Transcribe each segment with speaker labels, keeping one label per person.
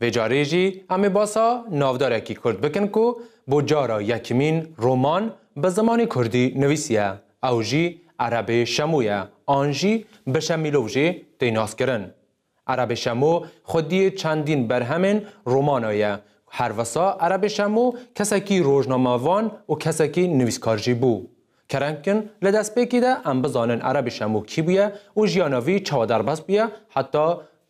Speaker 1: Vê carê jî em ê basa navdarekî kurd bikin ku bo cara yekimîn roman bi zimanê kurdî nivîsiye, ew jî Erebê Şemo ye an jî bi Şemîlov jê tê naskirin. Erebê Şemo xwediyê çendîn berhemên romana ye. Her wisa Erebê Şemo kesekî rojnamevan û kesekî nivîskar jî bû. Kereng in li destpêkê de em bizanin Erebê Şemo kî bûye û jiyana vî çawa derbas bûye heta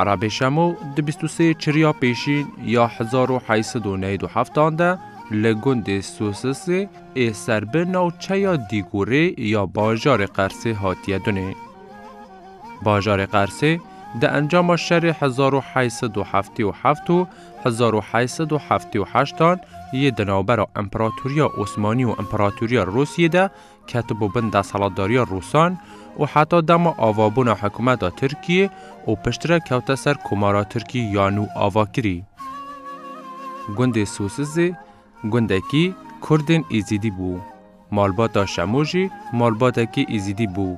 Speaker 1: Erabê Şemo di bîst û sê çirya pêşîn ya hezar û heşt sed û newîd û heftan de li gundê Sosisê ê ser bi navçeya Dîgûrê ya bajarê Qersê hatiye dunê. Bajarê Qersê di encama şerê hezar û heşt sed û heftê û heft û hezar û heşt sed û heftê û heştan yê di navbera Împeratoriya Osmanî û Împeratoriya Rûsiyê de ketibû bin desthilatdariya Rûsan û heta dema avabûna hikûmeta Tirkiyê û piştre kewte ser Komara Tirkî ya nû ava kirî. Gundê Sosizê gundekî Kurdên Êzîdî bû. Malbata Şemo jî malbatekî Êzîdî bû.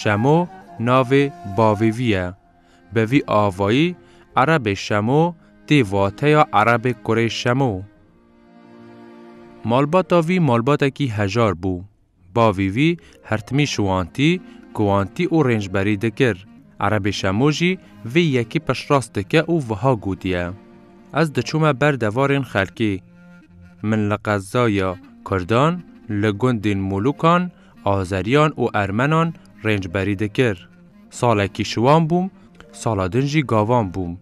Speaker 1: Şemo navê bavê vî ye. Bi vî avayî Erebê Şemo tê vateya Erebê Kurê Şemo. Malbata vî malbatekî hejar bû. Bavî vî hertimî şiwantî, guwantî û rêncberî dikir. Erebê Şemo jî vê yekî piştrast dike û wiha gotiye, Ez diçûme ber devarên xelkê. Min li qezaya Kurdan, li gundên Mûlûkan, Azeriyan û Ermenan rêncberî dikir. Salekî şiwan bûm, sala din jî gavan bûm.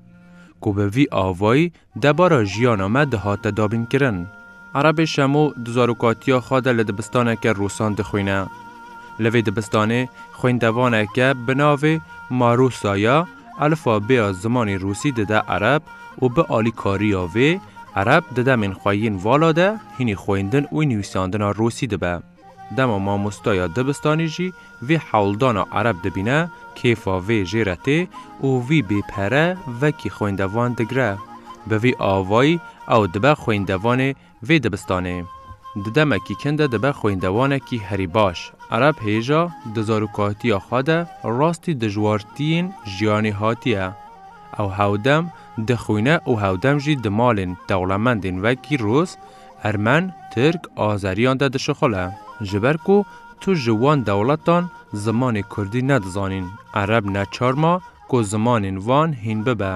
Speaker 1: Ku bi vî avayî Debara jiyana me dihate dabînkirin. Erebê Şemo di zarokatiya xwe de li dibistaneke rosan dixwîne. Li vê dibistanê xwêndevaneke bi navê Marosa ya elfabêya zimanê rûsî dide ereb û bi alîkariya vê, ereb di demên xwe yên vala de hînî xwêndin û nivîsandina rûsî dibe. Dema mamosteya dibistanî jî vê hewldana ereb dibîne, kêfa vê jê re tê û vî bê pere vekî xwêndevan digire. Bi vî avayî ew dibe xwêndevanê vê dibistanê. Di demekî kin de dibe xwêndevanekî herî baş. Ereb hêja di zarokatiya xwe de rastî dijwartiyên jiyanê hatiye. Ew hewdem dixwîne û hewdem jî di malên dewlemendên wekî Rûs, Ermen, Tirk, Azeriyan de dişixile. Ji ber ku tu ji wan dewletan zimanê Kurdî nedizanîn, Ereb neçar ma ku zimanên wan hîn bibe.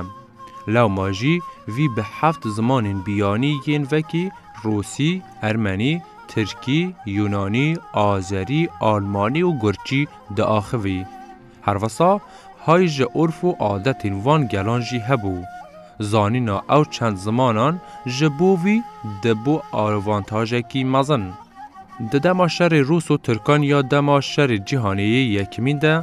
Speaker 1: Lewma jî vî bi heft zimanên biyanî yên vekî Rûsî, Ermenî, Tirkî, Yûnanî, Azerî, Almanî û Gurçî diaxivî. Her wisa hay ji urf û adetên van gelan jî hebû. Zanîna ew çend zimanan ji bo vî dibû avantajekî mezin. Di dema şerê rûs û tirkan ya dema şerê cîhanê yê yekimîn de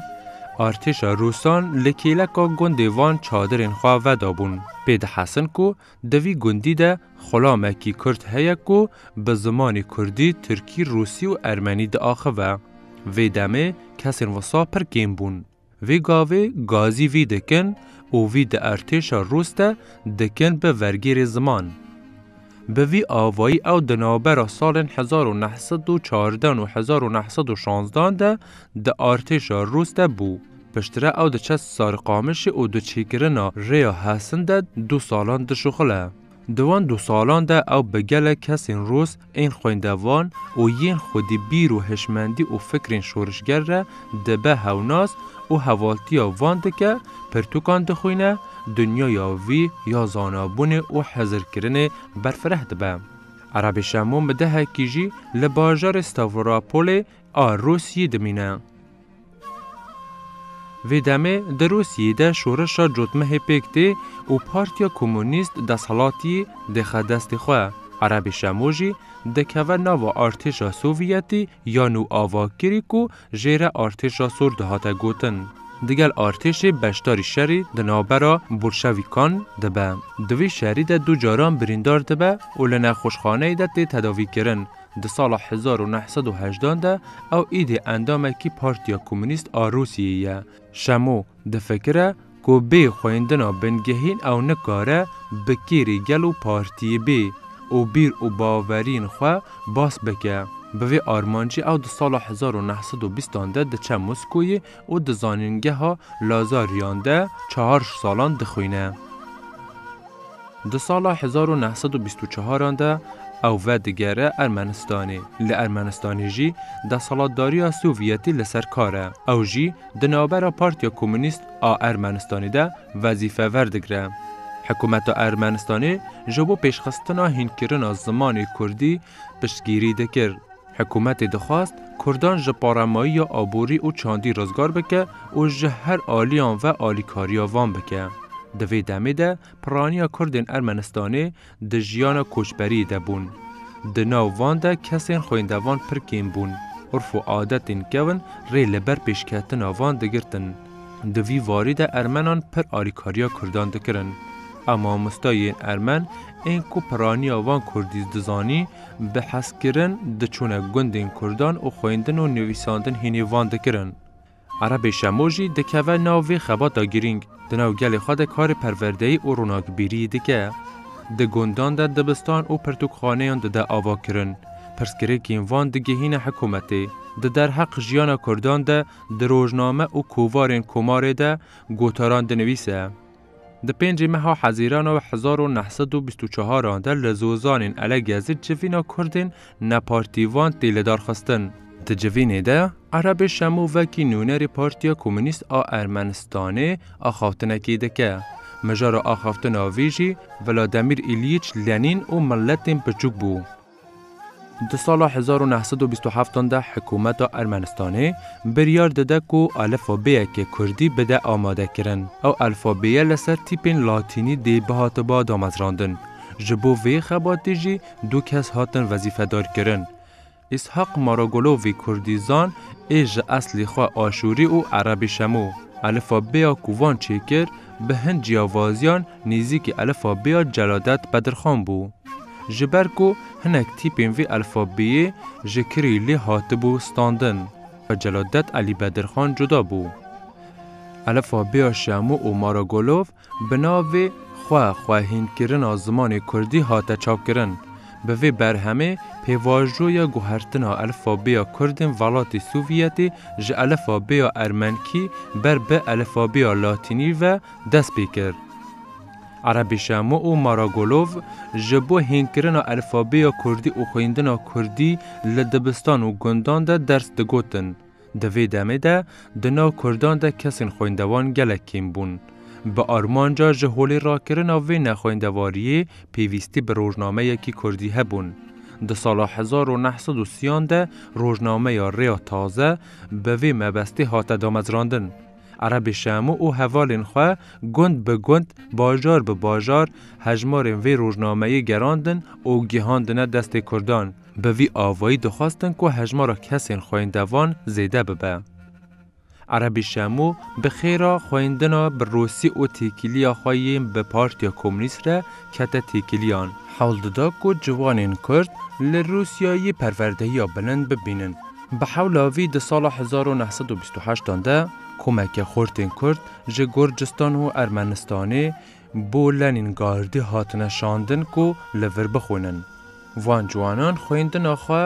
Speaker 1: artêşa rûsan li kêleka gundê van çadirên xwe vedabûn pê dihestin ku Di vî gundî de xulamekî kurd heye ku bi zimanê kurdî, tirkî, rûsî û ermenî diaxive. Vê demê kesên wisa pir kêm bûn. Vê gavê gazî vî dikin û vî di ertêşa rûs de dikin bi vergêrê ziman. Bi vî avayî ew di navbera salên hezar û neh sed û çardan û hezar û neh sed û şanzdan de di artêşa rûs de bû. Piştre ew diçe Sarikamişê û di çêkirina Rêya Hesin de du salan dişuxile. Di wan du salan de ew bi gelek kesên rûs ên xwendevan û yên xwedî bîr û hişmendî û fikrên şorişger re dibe hewnas û hevaltiya van dike, pirtûkan dixwîne, dinyaya vî ya zanabûnê û hizirkirinê berfireh dibe. Erebî Şemo Midehekî jî li bajarê Stavorapolê a Rûsyî dimîne. Vê demê di Rûsyeyê de şoreşa cotmehê pêk tê û Partiya Komûnîst deshilatî dixe destê xwe. Erebê Şemo jî dikeve nava artêşa Sovyetî ya nû a vakirî ku jê re artêşa sor dihate gotin. Digel artêşê beşdarî şerî di navbera Bolşewîkan de be. Di vî şerî de du caran birîndar dibe û li nexweşxaneyê de tê tedavîkirin. Di sala hezar û neh sed û hejdan de ew îdî endamekî Partiya Komûnîst a Rûsiyeyê ye. Şemo difikire ku bê xwendina bingehîn ew nikare bi kêrî gel û partiyê bê û bîr û baweriyên xwe bas bike. Bi vê armancê ew di sala hezar û neh sed û bîstan de diçe Moskoyê û di Zanîngeha Lazariyan de çar ji salan dixwîne. Di sala hezar û neh sed û bîst û çar an de ew vedigere Ermenistanê. Li Ermenistanê jî deselatdariya Sovyetî li ser kar e. Ew jî di navbera Partiya Komûnîst a Ermenistanê de wezîfe werdigre. Hikûmeta Ermenistanê ji bo pêşxistina hînkirina zimanê kurdî piştgîrî dikir. Hikûmetê dixwest kurdan ji paremayiya aborî û çandî rizgar bike û ji her aliyan ve alîkariya van bike. Di vê demê de piraniya kurdên Ermenistanê di jiyana koçberiyê de bûn. Di nav van de kesên xwêndevan pir kêm bûn, urf û adetên kevn rê li ber pêşketina van digirtin. Di vî varî de ermenan pir alîkariya kurdan dikirin. A mamosta yên ermen ên ku piraniya van kurdî dizanî, Bi hezkirin diçûne gundên kurdan û xwendin û nivîsandin hînî van dikirin. Erebê şemo jî dikeve nav vê xebata girîng, di nav gelê xwe de karê perwerdeyî û ronakbîriyî dike. Di gundan de dibistan û pirtûkxaneyan dide avakirin. Pirsgirêkên van digihîne hikûmetê. Di derheq jiyana kurdan de di rojname û kovarên komarê de gotaran dinivîse. Di pêncî meha hezîrana hezar û neh sed û bîst û çaran de li Zozanên Elegezî civîna Kurdên nepartîvan tê lidarxistin. Di civînê de Erebê Şemo vekî nûnerê Partiya Komûnîst a Ermenistanê axaftinekê dike. Mijara axaftina vî jî Vlademîr Îlyiç Lenîn û miletên piçûk bû. Di sala hezar û neh sed û bîst û heftan de hikûmeta Ermenistanê biryar dide ku alifabeyekê kurdî bide amadekirin. Ew alfabeye li ser tîpên latînî dê bihatiba damezrandin. Ji bo vê xebatê jî du kes hatin wezîfedarkirin. Îshaq Maragolovî kurdîzan ê ji eslê xwe aşûrî û erebî şemû. Alifabeya ku van çêkir bi hin ciyawaziyan Nêzîkî elfabêya Celadet Bedirxan bû. Ji ber ku hinek tîpên vê elfabêyê ji Kirîlî hatibû standin bi Celadet Elî Bedirxan cuda bû. Elfabêya Şemo û Maragolov bi navê Xwe xwehînkirina zimanê kurdî hate çapkirin. Bi vê berhemê pêvajoya guhertina elfabêya kurdên velatê Sovyetê ji elfabêya ermenkî ber bi elfabêya latînî ve dest pê kir. Erebî Şemo û Maragolov ji bo hînkirina elfabeya kurdî û xwendina kurdî li dibistan û gundan de ders digotin. Di vê demê de di nav kurdan de kesên xwendevan gelek kêm bûn. Bi armanca ji holê rakirina vê nexwendevariyê pêvîstî bi rojnameyekî kurdî hebûn. Di sala hezar û neh sed û sîyan de rojnameya Rêya Taze bi vê mebestê hate damezrandin. Erebê Şamo û hevalên xwe gund bi gund, bajar bi bajar hejmarên vê rojnameyê gerandin û gihandine destê Kurdan. Bi vî avayî dixwestin ku hejmara kesên xwêndevan zêde bibe. Erebê Şamo bi xêra xwendina bi Rûsî û têkiliya xwe yên bi Partiya Komûnîst re kete têkiliyan. Hewl dida ku ciwanên Kurd li Rûsyayê perwerdehiya bilind bibînin. Bi hewla vî di sala hezar û neh sed û bîst û heşt an de komeke xortên Kurd ji Gurcistan û Ermenistanê bo Lenîngardî hatine şandin ku li vir bixwînin. Van ciwanan xwendina xwe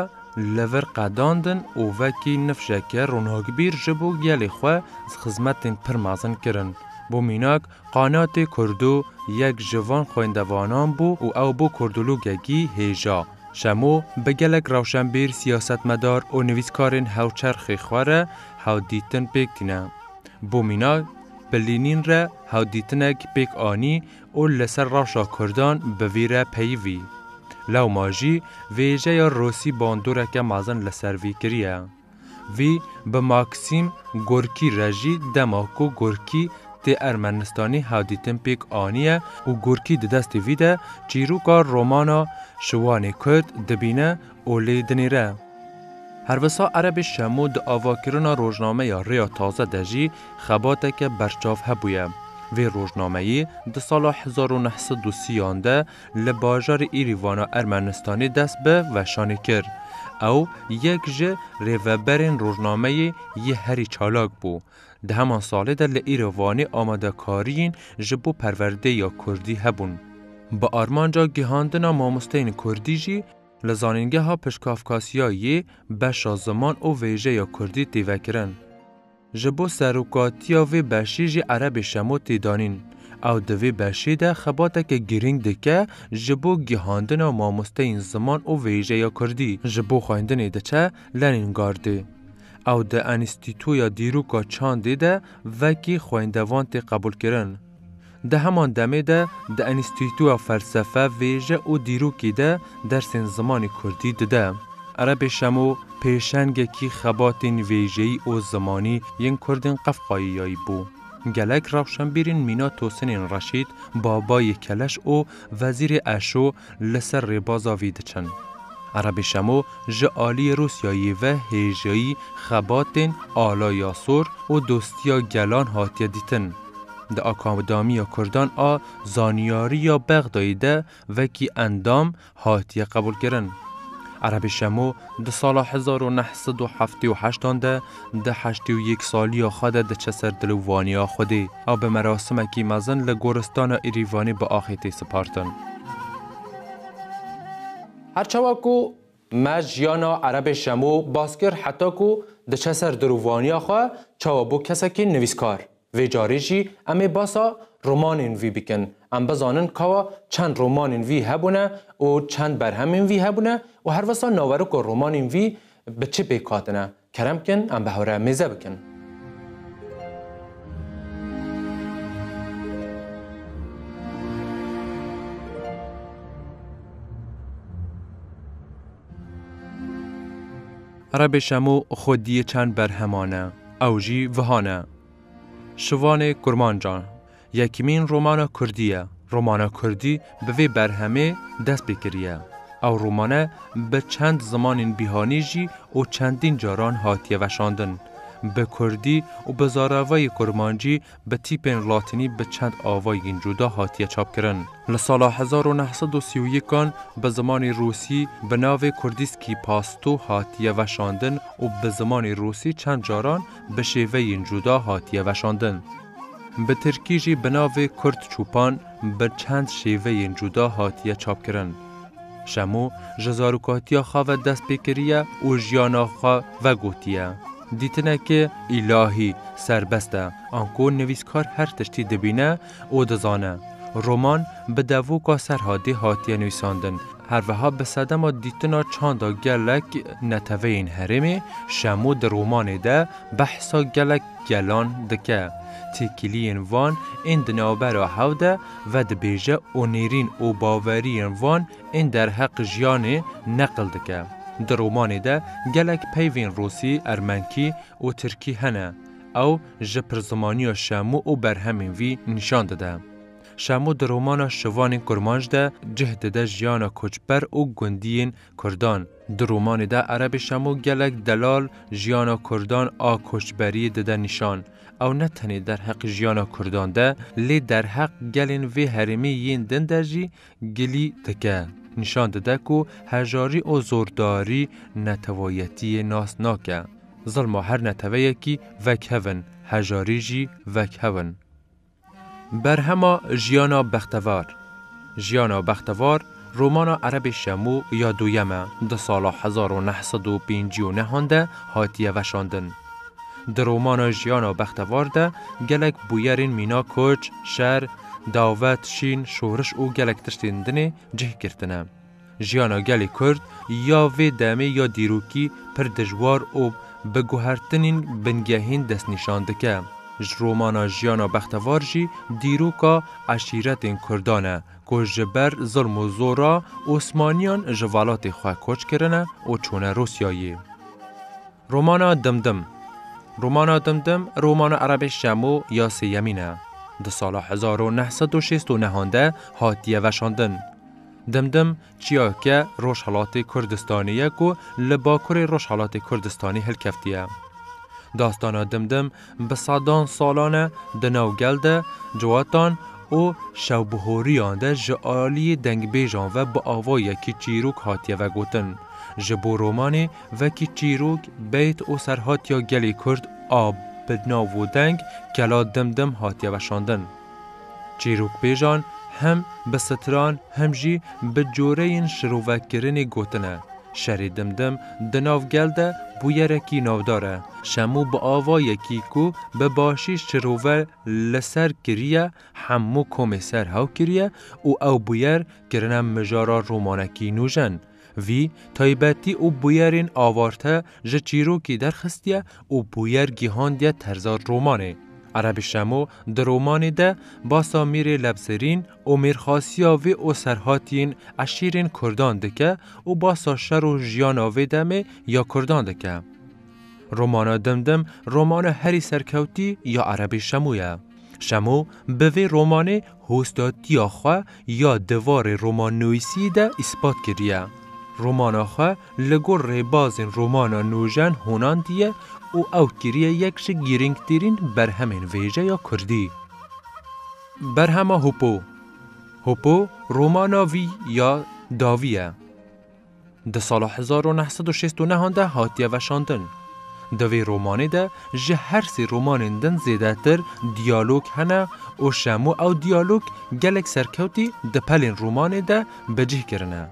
Speaker 1: li vir qedandin û vekî nifşeke ronakbîr ji bo gelê xwe xizmetên pir mezin kirin. Bo mînak Qanatê Kurdo yek ji van xwendevanan bû û ew bo kurdologekî hêja. Şemo bi gelek rewşenbîr, siyasetmedar û nivîskarên hewçerxê xwe re hewdîtin pêk tîne. Bo mînak, bi Lînîn re hewdîtinek pêk anî û li ser rewşa kurdan bi vî re peyivî. Lewma jî vêjeya Rosî bandoreke mezin li ser vî kiriye. Vî bi Maksîm Gorkî re jî dema ku Gorkî tê Ermenistanê hevdîtin pêk aniye û Gorkî di destê vî de çîroka romana Şiwanê Kurd dibîne û lê dinêre. Her wisa Erebê Şemo di avakirina rojnameya Rêya Taze de jî xebateke berçav hebûye. Vê rojnameyê di sala hezar û neh sed û sî yan de li bajarê Îrîvana Ermenistanê dest bi veşanê kir. Ew yek ji rêveberên rojnameyê yê herî çalak bû. Di heman salê de li Îrîvanê amadekariyên ji bo perwerdeyê ya Kurdî hebûn. Bi armanca gihandina mamosteyên Kurdî jî li Zanîngeha Piştgafkasiyayê beşa ziman û vêjeya Kurdî tê vekirin. Ji bo serokatiya vê beşê jî Erebê Şemo tê danîn. Ew di vê beşê de xebateke girîng dike ji bo gihandina mamosteyên ziman û vêjeya kurdî ji bo xwendinê diçe Lenîngardê. Ew di Enstîtoya Dîroka Çandê de vekî xwendevan tê qebûlkirin. Di heman demê de di Enstîtuya Felsefe, Vêje û Dîrokî de dersên zimanê kurdî dide. Erebê Şemo pêşengekî xebatên vêjeyî û zimanî yên kurdên Qefqayîyayî bû. Gelek rewşenbîrên mîna Tosinên Reşîd, Babayê Keleş û Wezîrê Eşo li ser rêbaza vî diçin. Erebî Şemo ji aliyê Rûsyayê ve hêjayî xebatên ala ya sor û dostiya gelan hatiye dîtin. Di Akadamiya Kurdan a Zaniyarî ya Bexdayê de wekî endam hatiye qebûlkirin. Erebî Şemo di sala hezar û neh sed û heftê û heştan de Di heştê û yek saliya xwe de diçe ser dil û vaniya Xwedê. Ew bi merasimekî mezin li Goristana Îrîvanê bi axê tê sipartin. Her çawa ku me jiyana Erebê Şemo bas kir heta ku diçe ser dil û vaniya xwe çawa bû kesekî nivîskar. Vê carê jî em ê basa romanên vî bikin. Em bizanin kawa çend romanên vî hebûne û çend berhemên vî hebûne û herwisa naweriko romanên vî bi çi pêk hatine. Kerem bikin em bi hev re mêze bikin. Rebê şemo xwe diyê çend berheman e. Ew jî vihan e. Şivanê kurmancan. Yekîmîn romana kurdî ye. Romana kurdî bi vê berhemê dest pê kiriye. Ew romane bi çend zimanên bîhanî jî û çendîn caran hatiye veşandin. Bi kurdî û bi zaravayê kurmancî bi tîpên latînî bi çend avayên cuda hatiye çapkirin. Li sala hezar û neh sed û sî û yekan bi zimanê rûsî bi navê Kurdîskî Pasto hatiye veşandin û bi zimanê rûsî çend caran bi şêveyên cuda hatiye veşandin. Bi tirkî jî bi navê Kurt Çûpan bi çend şêveyên cuda hatiye çapkirin. Şemo ji zarokatiya xwe ve dest pê kiriye û jiyana xwe vegotiye. Dîtinekê îlahî, serbest e, anko nivîskar her tiştî dibîne û dizane. Roman bi devoka Serhadê hatiye nivîsandin, her wiha bi sedema dîtina çanda gelek neteweyên herêmê, Şemo di romanê de behsa gelek Gelan dike. Têkiliyên van ên di navbera hev de vedibêje û nêrîn û baweriyên van ên derheq jiyanê neqil dike. Di romanê de gelek peyvên rûsî, ermenkî û tirkî hene. Ew ji pirzimanîya Şemo û berhemên vî nîşan dide. Şemo di romana Şivanên Kurmanc de cih dide jiyana koçber û gundiyên Kurdan, di romanê de Erebê Şemo gelek delal jiyana Kurdan a koçberiyê dide nîşan. Ew ne tenê derheq jiyana Kurdan de, lê derheq gelên vê herêmê yên din de jî gilî dike. Nîşan dide ku hejarî û zordarî netewayetiyê nas nake. Zilma her neteweyekî vekhev in, hejarî jî vekhew in. Berhema Jiyana Bextevar Jiyana Bextevar romana erebê Şemo ya Duyem e di sala hezar û neh sed û pêncî û nehan de hatiye veşandin. Di romana Jiyana Bextevar de gelek bûyerên mîna koç, şer, davet, şîn, şoriş û gelek tiştên dinê cih girtine. Jiyana gelê Kurd ya vê demê ya dîrokî pir dijwar û bi guhertinên bingehîn destnîşan dike. Ji romana Jiyana Bextevar jî dîroka eşîretên Kurdan e ku ji ber zilm û zora Osmaniyan ji velatê xwe koç kirine û çûne Rûsyayê. Romana Dimdim Romana Dimdim romana erebê Şemo ya sêyemîn e. Di sala hezar û neh sed û şêst û nehan de hatiye veşandin. Dimdim çiyayeke Rojhilatê Kurdistanê ye ku li Bakurê Rojhilatê Kurdistanê hilkeftiye. Dastana Dimdim bi sedan salan e di nav gel de, ciwatan û şewbihoriyan de ji aliyê dengbêjan ve bi avayekî çîrok hatiye vegotin. Ji bo romanê vekî çîrok, beyt û serhatiya gelê Kurd a bi nav û deng Kela Dimdim hatiye veşandin. Çîrokbêjan hem bi stran hem jî bi coreyên şirovekkirinê gotine, Şerê dimdim di nav gel de bûyerekî navdar e. Şemû bi avayekî ku bi başî şirove li ser kiriye hemû komê ser hew kiriye û ew bûyer kirine mijara romanekî nûjen. Vî taybetî û bûyerên avarte ji çîrokî derxistiye û bûyer gîhandiye terza romanê. Erebî Şemo di romanê de basa Mîrê Lebzerîn û mêrxasiya vê û serhatiyên eşîrên kurdan dike û basa şer û jiyana vê demê ya kurdan dike. Romana Dim Dim romana herî serkewtî ya Erebî Şemo ye. Şemo bi vê romanê Hostatiya xwe ya di varê romannûîsî de îspat kiriye. Romana xwe li gor rêbazên romana nûjen honandiye û ew kiriye yek ji girîngtirîn berhemên vêjeya kurdî. Berhema Hopo Hopo romana vî ya dawî ye. Di sala hezar û neh sed û şêst û nehan de hatiye veşandin. Di vê romanê de ji her sê romanên din zêdetir diyalog hene û şemo ew diyalog gelek serkewtî di pelên romanê de bi cih kirine.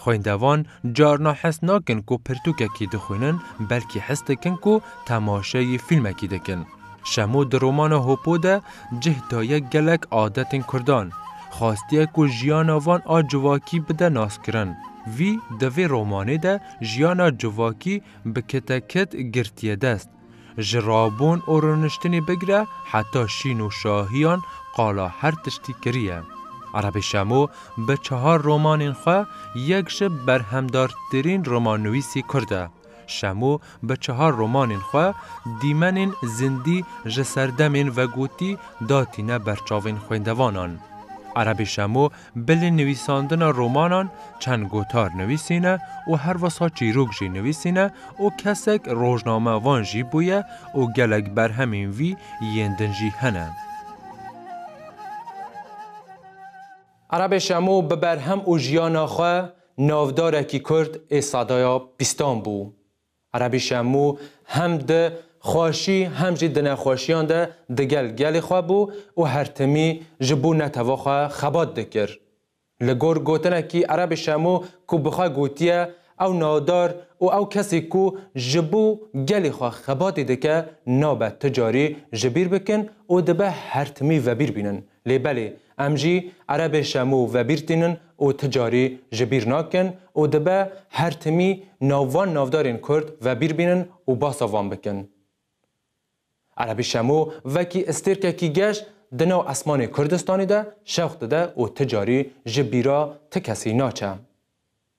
Speaker 1: Xwêndevan carna his nakin ku pirtûkekî dixwînin belkî his dikin ku temaşeyê fîlmekî dikin. Şemo di romana Hopo de cih daye gelek adetên Kurdan. Xwastiye ku jiyana van a civakî bide naskirin. Vî di vê romanê de jiyana civakî bi kite kit girtiye dest. Ji rabûn û rûniştinê bigire heta şîn û şahiyan qala her tiştî kiriye. Erebê Şemo bi çehar romanên xwe yek ji berhemdartirîn romannivîsî Kurd e. Şemo bi çehar romanên xwe dîmenên zindî ji serdemên vegotî datîne ber çavên xwêndevanan. Erebî Şemo bilên nivîsandina romanan çend gotar nivîsîne û her wisa çîrok jî nivîsîne û kesek rojnamevan jî bûye û gelek berhemên vî yên din jî hene. Arabê Şamo bi berhem û jiyana xwe navdarekî Kurd ê sadaya bîstan bû. Arabî Şamo hem di xweşî hem jî di nexweşiyan de digel gelê xwe bû û her timî ji bo neteva xwe xebat dikir. Li gor gotinekî Arabê Şamo ku bi xwe gotiye ew navdar û ew kesî ku ji bo gelê xwe xebatî dike nabe ti carî ji bîr bikin û dibe her timî vebîr bînin. Lê belê Em jî erebê şemû vebîrtînin û ti carî ji bîr nakin û dibe her timî nav van navdarên kurd vebîr bînin û basa van bikin. Erebî şemû vekî istêrkekî geş di nav esmanê Kurdistanê de şewq dide û ti carî ji bîra ti kesî naçe.